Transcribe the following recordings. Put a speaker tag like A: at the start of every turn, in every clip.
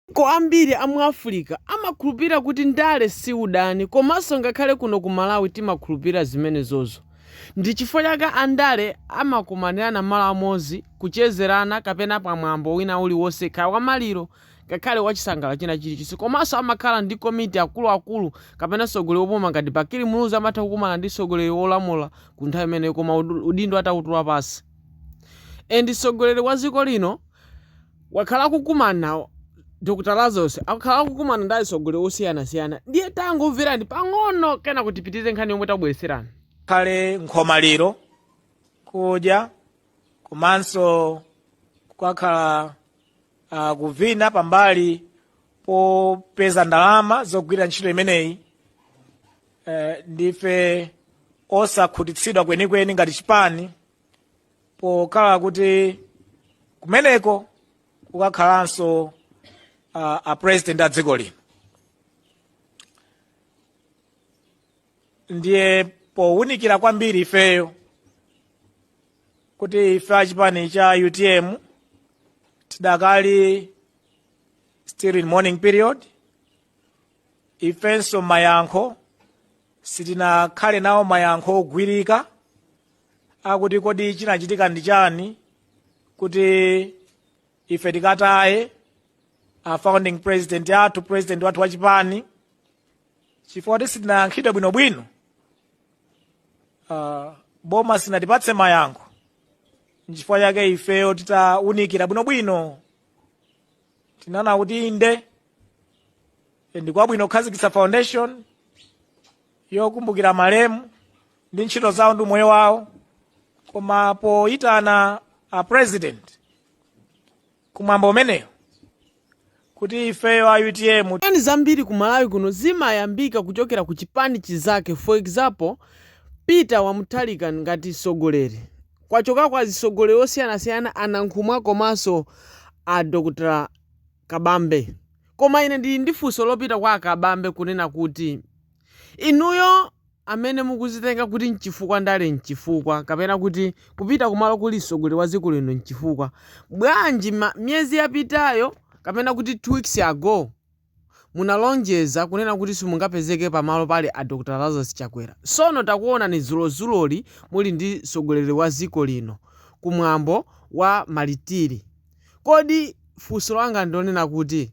A: Mayiko ambiri a mu Africa amakhulupirira kuti ndale si udani komanso ngakhale kuno ku Malawi timakhulupirira zimenezozo. Ndi chifukwa chake andale amakumanirana malo amodzi, kuchezerana kapena pa mwambo wina uliwonse kaya wa maliro ngakhale wa chisangalalo china chilichonse komanso amakhala ndi komiti akuluakulu kapena mtsogoleri wopuma ngati Bakili Muluzi amatha kukumana ndi mtsogoleri wolamula kwa nthawi imeneyo koma udindo atautula pansi. And mtsogoleri wa dziko lino wakhala akukumana Dr Lazarus akhala akukumana ndi atsogoleri osiyanasiyana ndiye tangomverani pang'ono kenako tipitirize nkhani yomwe tabweretserani khale
B: nkhomaliro kudya komanso kukakhala uh, kuvina pambali popeza ndalama zogwirira ntchito imeneyi uh, ndife osakhutitsidwa kwenikweni ngati chipani pokhala kuti kumeneko kukakhalanso uh, a president a dziko lino ndiye powunikira kwambiri ifeyo kuti ife achipani cha utm tidakali still in mourning period ifenso mayankho sitinakhale nawo mayankho ogwirika akuti kodi chinachitika ndi chani kuti ife tikataye a founding president athu president wathu wa chipani chifukwa kuti sitinayankhidwe bwinobwino uh, boma sinatipatse mayankho nchifukwa chake ifeyo titaunikira bwinobwino tinaona kuti inde ndikwabwino kukhazikitsa foundation yokumbukira malemu ndi ntchito zawo ndi umoyo wawo koma poyitana a president kumwambo umeneyo kuti ifeyo a utm nkhani zambiri ku
A: malawi kuno zimayambika kuchokera ku chipani chizake for example Peter wa Mutharika ngati mtsogoleri kwachoka kwa azitsogoleri osiyanasiyana a Nankhumwa komanso a dr Kabambe. Koma ine ndili ndi funso lopita kwa a Kabambe kunena kuti inuyo amene mukuzitenga kuti mchifukwa ndale mchifukwa kapena kuti kupita kumalo kuli mtsogoleri wa dziko lino mchifukwa, bwanji ma, miyezi yapitayo kapena kuti two weeks ago munalonjeza kunena kuti simungapezeke pa malo pali a Dr Lazarus Chakwera tsono takuonani dzulozuloli muli ndi mtsogoleri wa dziko lino ku mwambo wa Maritiri. Kodi funso langa ndilonena kuti,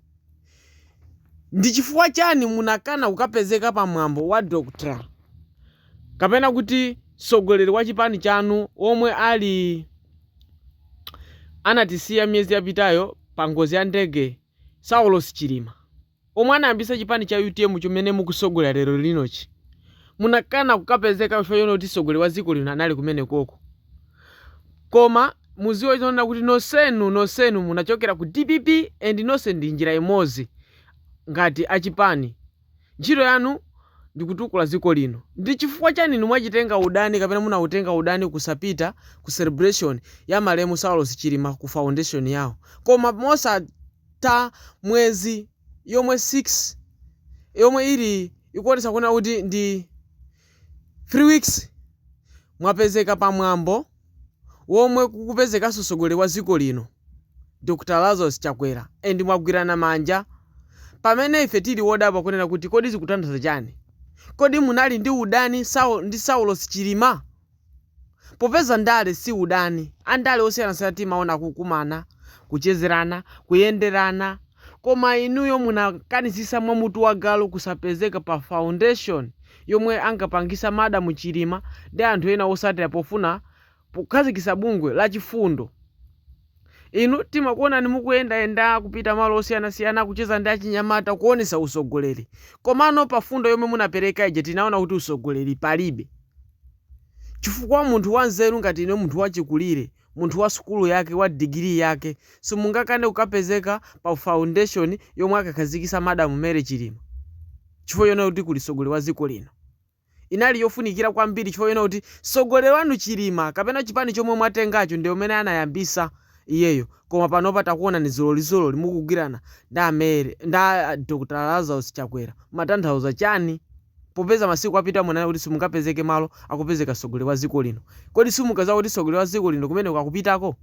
A: ndi chifukwa chani munakana kukapezeka pa mwambo wa Dr kapena kuti mtsogoleri wa chipani chanu womwe ali anatisiya miyezi yapitayo pa ngozi ya ndege Saulos Chilima? omwe anayambitsa chipani cha utm chomene mukutsogolera lero linochi munakana kukapezeka chifukwa chonena kuti mtsogoleri wa dziko lino anali kumenekoko koma muziwe zonena kuti nonsenu nonsenu munachokera ku dpp and nonse ndi njira imodzi ngati achipani ntchito yanu ndikutukula dziko lino ndi chifukwa chani inu mwachitenga udani kapena munautenga udani kusapita ku celebration ya malemu saulos chilima ku foundation yawo koma mosa ta mwezi yomwe 6 yomwe ili ikuonetsa kunena kuti ndi 3 weeks mwapezeka pa mwambo womwe kukupezekanso mtsogoleri wa dziko lino Dr. Lazarus Chakwera and mwagwirana manja pamene ife tili wodabwa kunena kuti kodi zikutanthauza chani kodi munali ndi udani ndi Saulos Chilima Popeza ndale si udani, andale osiyanasiyana timaona akukumana, kuchezerana, kuyenderana, koma inuyo munakanitsitsa mwa mutu wa galu kusapezeka pa foundation yomwe ankapangitsa Madam Chilima ndi anthu ena otsatira pofuna kukhazikitsa bungwe la Chifundo Inu timakuonani mukuyenda yenda kupita malo osiyana siyana kucheza ndi achinyamata kuonesa usogoleri komano pa fundo yomwe munapereka ija tinaona kuti usogoleri palibe chifukwa munthu wanzeru ngati inuyo munthu wachikulire munthu wa sukulu yake wa degree yake simungakane kukapezeka pa foundation yomwe akakhazikisa madam Mary Chilima chifukwa chonena kuti kuli sogoleri wa dziko lino inali yofunikira kwambiri chifukwa chonena kuti mtsogoleri wanu Chilima kapena chipani chomwe mwatengacho ndi amene anayambisa iyeyo koma panopa takuonani ziloliziloli mukugwirana ndi a Mary ndi a Dr Lazarus Chakwera mumatanthauza chani popeza masiku apitawa munanena kuti simungapezeke malo akupezeka mtsogoleri wa dziko lino kodi simunkadziwa kuti mtsogoleri wa dziko lino kumeneko akupitako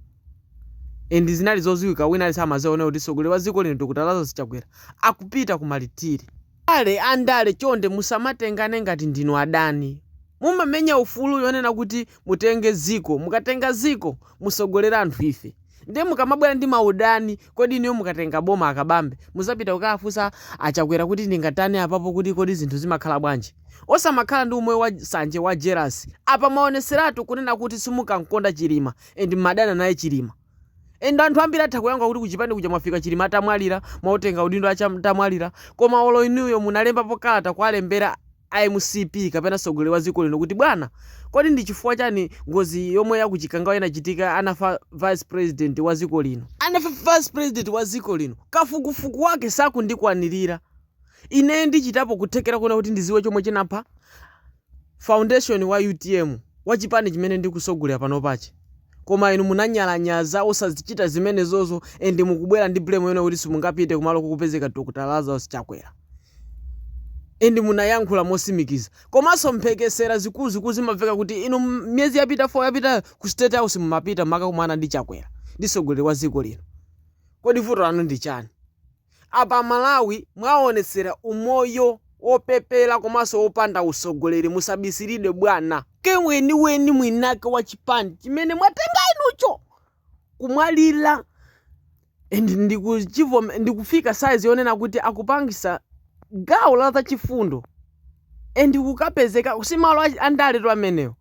A: and zinali zodziwika wina aliyense amadziwa kunena kuti mtsogoleri wa dziko lino Dr Lazarus Chakwera akupita ku Malitiri. Abale andale chonde musamatengane ngati ndinu adani. Mumamenya ufulu yonena kuti mutenge dziko mukatenga dziko mutsogolere anthu ife. Ndiye mukamabwera ndi maudani kodi inuyo mukatenga boma a Kabambe mudzapita kukawafunsa a Chakwera kuti ndingatani apapo kuti kodi zinthu zimakhala bwanji. Osamakhala ndi umoyo wa sanje wa jelasi. Apa mwaonetseratu kunena kuti simunkamukonda Chilima and mmadana naye Chilima. And anthu ambiri atha kuyankha kuti kuchipani kuja mwafika Chilima atamwalira, mwautenga udindo atamwalira, koma olo inuyo munalembapo kalata kuwalembera a mcp kapena tsogoleri wa dziko lino kuti bwana kodi ndi chifukwa chani ngozi yomwe ya kuchikangawa inachitika anafa vice president wa dziko lino anafa vice president wa dziko lino kafukufuku wake sakundikwanirira ineyo ndichitapo kuthekera kuona kuti ndiziwe chomwe chinampha founder wa utm wa chipani chimene ndikusogolera panopachi koma inu munanyalanyaza osazichita zimenezozo and mukubwera ndi blame yonena kuti simungapite kumalo kukupezeka Dr Lazarus Chakwera and munayankhula mosimikiza komanso mphekesera zikuluzikulu zimamveka kuti inu m- miyezi yapita 4 yapitayo ku state house mumapita mukakumana ndi Chakwera ndi sogoleri wa dziko lino kodi vuto lanu ndi chani Apa amalawi mwaonetsera umoyo opepela komanso opanda utsogoleri musabisilidwe bwana. Mweniweni mwinake wa chipani chimene mwatenga inucho kumwalila and ndikufika size yonena kuti akupangisa gawo la zachifundo and kukapezekako simalo andaletu ameneo.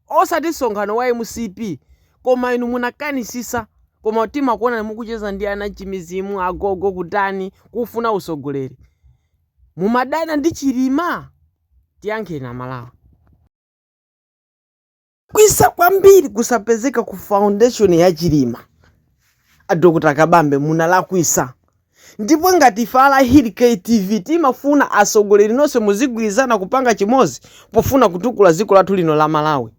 A: osati nsonkhano wa mcp koma inu munakanisisa koma timakuonani mukucheza ndi anachimizimu agogo kutani kufuna usogoleri mumadana ndi chilima tiyankheni amalawi. Mwalakwisa kwambiri kusapezeka ku foundation ya Chilima. A Dr. Kabambe munalakwisa Ndipo ngati ife a Lahiri K TV timafuna atsogoleri nonse muzigwirizana kupanga chimodzi pofuna kutukula dziko lathu lino la Malawi.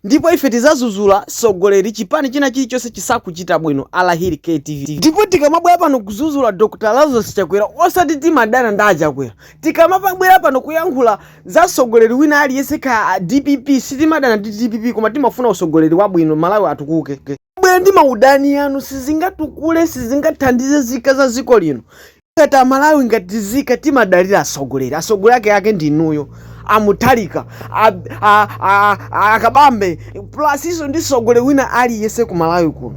A: Ndipo ife tizazuzula tsogoleri chipani china chilichonse chisakuchita bwino a Lahiri K TV. Ndipo tikamabwera pano kuzazuzula Dr Lazarus Chakwera osati timadana ndi a Chakwera. Tikamabwera pano kuyankhula za tsogoleri wina aliyense kaya a dpp sitimadana ndi dpp koma timafuna utsogoleri wabwino Malawi atukuke. bwera ndi maudani yanu sizingatukule sizingathandize zika za dziko lino ngati amalawi ngati zika timadalira atsogoleri atsogoleri ake ake ndinuyo a Mutharika akabambe plus iso ndi tsogoleri wina aliyese ku malawi kuno